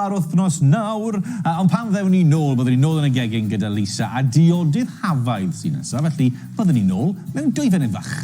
Ar wythnos nawr, yy ond pan ddewn ni nôl byddwn ni nôl yn y gegin gyda Lisa a diodydd Hafaidd sy'n nesaf, felly byddwn ni nôl mewn dwy funud fach.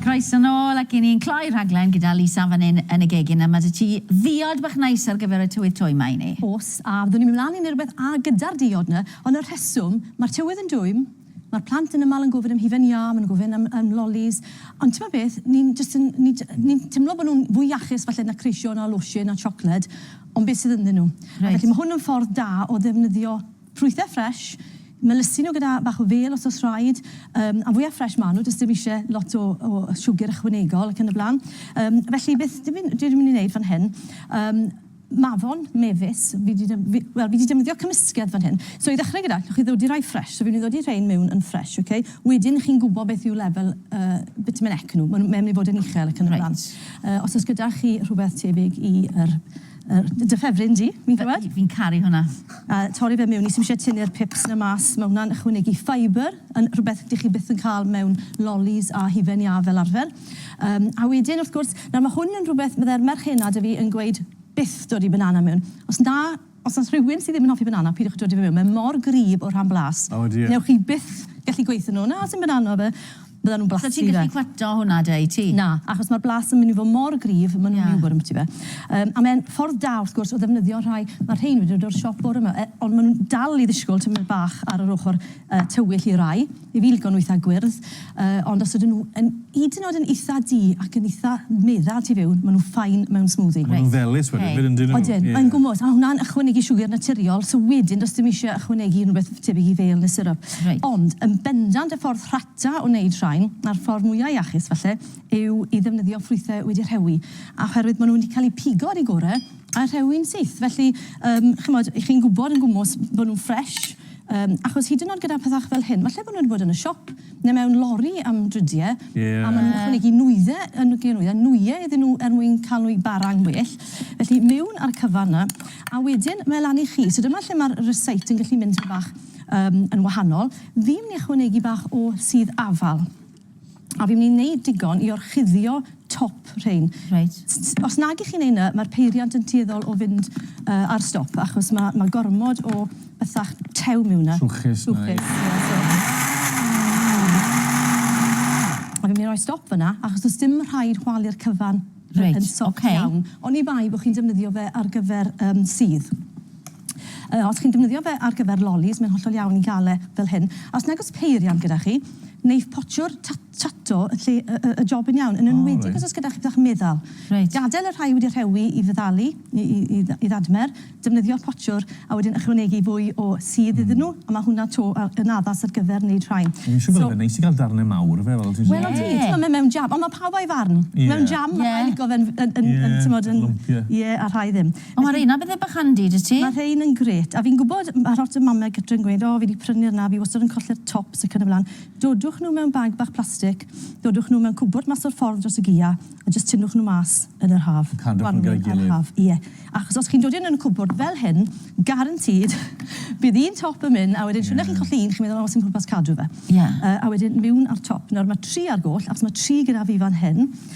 Croeso nôl ac i ni'n cloi rhaglen gyda Lisa fan hyn yn y gegin a ma' 'da ti ddiod bach neis ar gyfer y tywydd twym 'ma i ni. Oes, a fyddwn ni'n mynd mlan i neu rwbeth a gyda'r diod 'na, ond y rheswm ma'r tywydd yn dwym Mae'r plant yn aml yn gofyn am hufen iâ, maen nhw'n gofyn am am lolis, ond timod beth, ni'n jyst yn ni j- ni'n timlo bod nhw'n fwy iachus falle na creision a losin a siocled, ond beth sydd ynddyn nhw. Reit. Felly mae hwn yn ffordd da o ddefnyddio ffrwythau ffresh, melysu nhw gyda bach o fêl os oes rhaid, yym a fwya ffresh maen nhw, does dim isie lot o o siwgr ychwanegol ac yn y blaen. Yym felly beth dw i'n dwi mynd i wneud fan hyn, yym Mafon, mefus, fi 'di def- fi, wel, fi 'di defnyddio cymysgedd fan hyn. So i ddechrau gyda, allwch chi ddodi rhai ffresh. So fi'n mynd i ddodi rhein mewn yn ffresh, ok? Wedyn chi'n gwybod beth yw lefel y bitumen ec nhw. Mae'n mynd i fod yn uchel ac yn y blaen. Reit. Os oes gyda chi rhywbeth tebyg i yr, yr, dy ffefryn di, fi'n gwybod? Fi, fi'n caru hwnna. A torri fe mewn i, sdim isie tynnu'r pips 'na mas. Mae hwnna'n ychwanegu ffeibr, yn rhywbeth dych chi byth yn cael mewn lolis a hufen iâ fel arfer. Yym, a wedyn, wrth gwrs, nawr ma' hwn yn rhywbeth fydde'r merchenad a fi yn gweud byth dod i banana mewn. Os na, os o's rhywun sy ddim yn hoffi banana, pidwch dod i fe mewn, mae mor gryf o rhan blas. O dear. Newch chi byth gallu gweutho nhw, na, sdim banana 'da fe. Byddan nhw'n blasu fe. So ti'n gallu cwato hwnna 'da i ti? Na, achos mae'r blas yn mynd i fod mor gryf, maen nhw'n mynd i ambyti fe. Yym, a mae'n ffordd da, wrth gwrs, o ddefnyddio rhai, ma' rhein wedi dod o'r siop bore 'ma, ond maen nhw'n dal i ddisgwyl tymed bach ar yr ochr tywyll i rai, i fi lico nhw eitha gwyrdd, yy ond os ydyn nhw yn hyd yn oed yn eitha du ac yn eitha meddal tu fewn, ma' nhw fine mewn smoothie. A ma' nhw'n felys wedyn 'fyd yndyn nhw? Odyn, yn gwmws, a hwnna'n ychwanegu siwgr naturiol, so wedyn does dim isie ychwanegu unrhywbeth tebyg i fêl neu syrwp. Ond yn bendant y ffordd rhata o wneud rhain, a'r ffordd mwya iachus falle, yw i ddefnyddio ffrwythau wedi rhewi, oherwydd ma' nhw wedi cael eu pigo ar eu gore a rhewi'n syth, felly yym chimod, 'y chi'n gwbod yn gwmws bo' nhw'n ffresh, Yym, achos hyd yn o'd gyda pethach fel hyn, falle bod nhw wedi bod yn y siop neu mewn lori am dridie... Ie. ...a ma' nhw'n ychwanegu nwydde yn y lle nwya- nwye iddyn nhw er mwyn ca'l nhw i bara'n well. Felly, mewn a'r cyfan 'na, a wedyn mae e lan i chi. So dyma lle ma'r rysáit yn gallu mynd tipyn bach yym yn wahanol. Fi'n myn' i ychwanegu bach o sudd afal. a fi'n mynd i wneud digon i orchuddio top rhein. Reit. Os nag i chi'n neud 'na, ma'r peiriant yn tueddol o fynd yy ar stop achos ma' ma' gormod o bethach tew miwn 'na. Trwchus 'na. Trwchus, ie, so. A fi'n myn' i roi stop fan 'na achos do's dim rhaid chwalu'r cyfan. Reit, oce. Yn soft iawn, oni bai bo' chi'n defnyddio fe ar gyfer yym sudd. Os chi'n defnyddio fe ar gyfer lolis, mae'n hollol iawn i gael e fel hyn. A os nag oes peiriant gyda chi, neith potio'r tato yn lle y job yn iawn, yn enwedig os oes gyda chi bach meddal. Gadael y rhai wedi rhewi i feddalu, i ddadmer, defnyddio'r potiwr a wedyn ychwanegu fwy o sudd iddyn nhw, a mae hwnna 'to yn addas ar gyfer wneud rhain. Dwi'n siŵr fyddai fe'n neis i gael darnau mawr o fe, fel ti'n sôn. Wel odi, timod mae mewn jam, ond mae pawb a'i farn. Mewn jam mae rhai yn licio fe'n yn yn yn timod yn... Yn lwmpio. Ie, a rhai ddim. O ma reina bethe bach handi da ti. Ma rhein yn grêt a fi'n gwbod ma lot o mame gytre yn gweud o fi di prynu rna fi wastad yn colli'r tops ac yn y blan. Dodwch nhw mewn bag bach plastic, dodwch nhw mewn cwbwrd mas o'r ffordd dros y gia a jyst tynnwch nhw mas yn yr haf. Yn cadw nhw gyda'i gilydd. Gwanwyn a'r haf ie. Achos os chi'n dod i nhw yn y cwbwrd fel hyn, guaranteed bydd un top yn myn a wedyn shwd na chi'n colli un chi'n meddwl o sim pwrpas cadw fe. Ie. A wedyn miwn ar top. Nawr ma tri ar goll achos ma tri gyda fi fan hyn.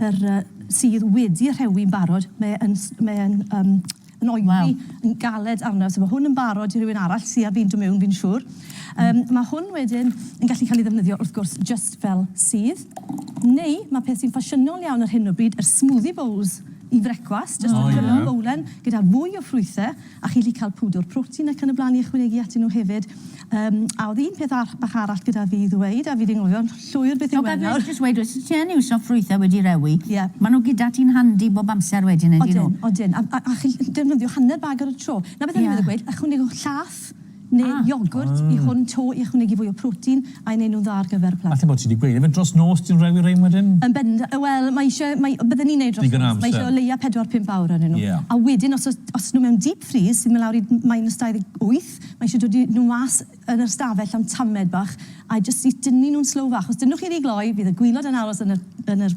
yr yy sydd wedi rhewi'n barod, mae e'n s- mae e'n yym yn oeri... Waw. ...yn galed arno, so ma' hwn yn barod i rywun arall sy ar fin do' mewn fi'n siŵr. Yym ma' hwn wedyn yn gallu ca'l 'i ddefnyddio wrth gwrs jyst fel sydd, neu ma' peth sy'n ffasiynol iawn ar hyn o bryd yr smoothie bowls i frecwast... O ie. ...jyst y canol fowlen gyda fwy o ffrwythe. A chi'n gallu cael pwdwr protein ac yn y blaen i ychwanegu atyn nhw hefyd. Yym, a oedd un peth ar- bach arall gyda fi i ddweud, a fi 'di anghofio'n llwyr beth yw e nawr. Jyst weud os ti yn iwso ffrwythau wedi rewi... Ie. ...ma' nhw gyda ti'n handi bob amser wedyn ydyn nhw? Odyn, odyn. A a a chi'n gallu defnyddio hanner bag ar y tro. 'Na beth o'n i'n meddwl gweud, ychwanegwch llath neu iogwrt i hwn to i ychwanegu fwy o protein a'i wneud nhw'n dda ar gyfer plant. Falle bod ti 'di gweud. Ife dros nos ti'n rhoi rein wedyn? Yn bend- yy wel mae isie mae bydden i'n neud dros nos. Digon o amser. Mae isie o leia 4-5 awr arnyn nhw. Ie. A wedyn os o's os nhw mewn deep freeze sy'n mynd lawr i minus 28 mae isie dod i nhw mas yn yr ystafell am tamed bach a jyst i dynnu nhw'n slow fach. Os dynnwch chi rhy gloi fydd y gwilod yn aros yn yr yn yr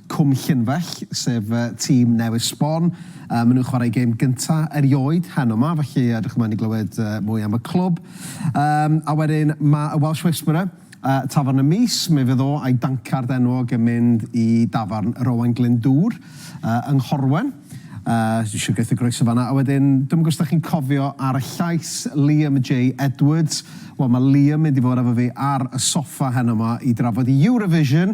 Cwm Llynfell, sef tîm newydd sbon. Maen nhw'n chwarae gêm gynta erioed heno ma, felly edrych ymlaen i glywed mwy am y clwb. A wedyn mae y Welsh Whisperer, Tafarn y Mis, mi fydd o a'i dancard enwog yn mynd i dafarn yr Owain Glyndŵr yng Nghorwen. Dwi eisiau gweithio groeso fanna. A wedyn, dwi'm yn gwybod os da chi'n cofio ar y llais, Liam J Edwards. Wel, mae Liam mynd i fod efo fi ar y soffa heno ma i drafod Eurovision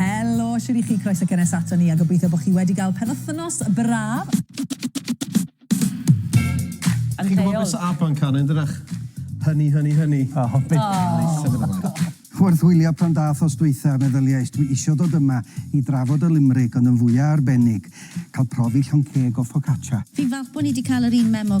Helo, shwt i chi? Croeso cynnes ato ni a gobeithio bod chi wedi gael penwythnos braf. Chi'n gwybod beth sy'n Aban Can yn dydach? Hynny, hynny, hynny. Oh, oh. oh. Wrth wylio pan dath os dweitha, meddyliais, dwi isio dod yma i drafod y limrig ond yn fwya arbennig, cael profi llon ceg o focaccia. Fi'n falch bod ni wedi cael yr un memo.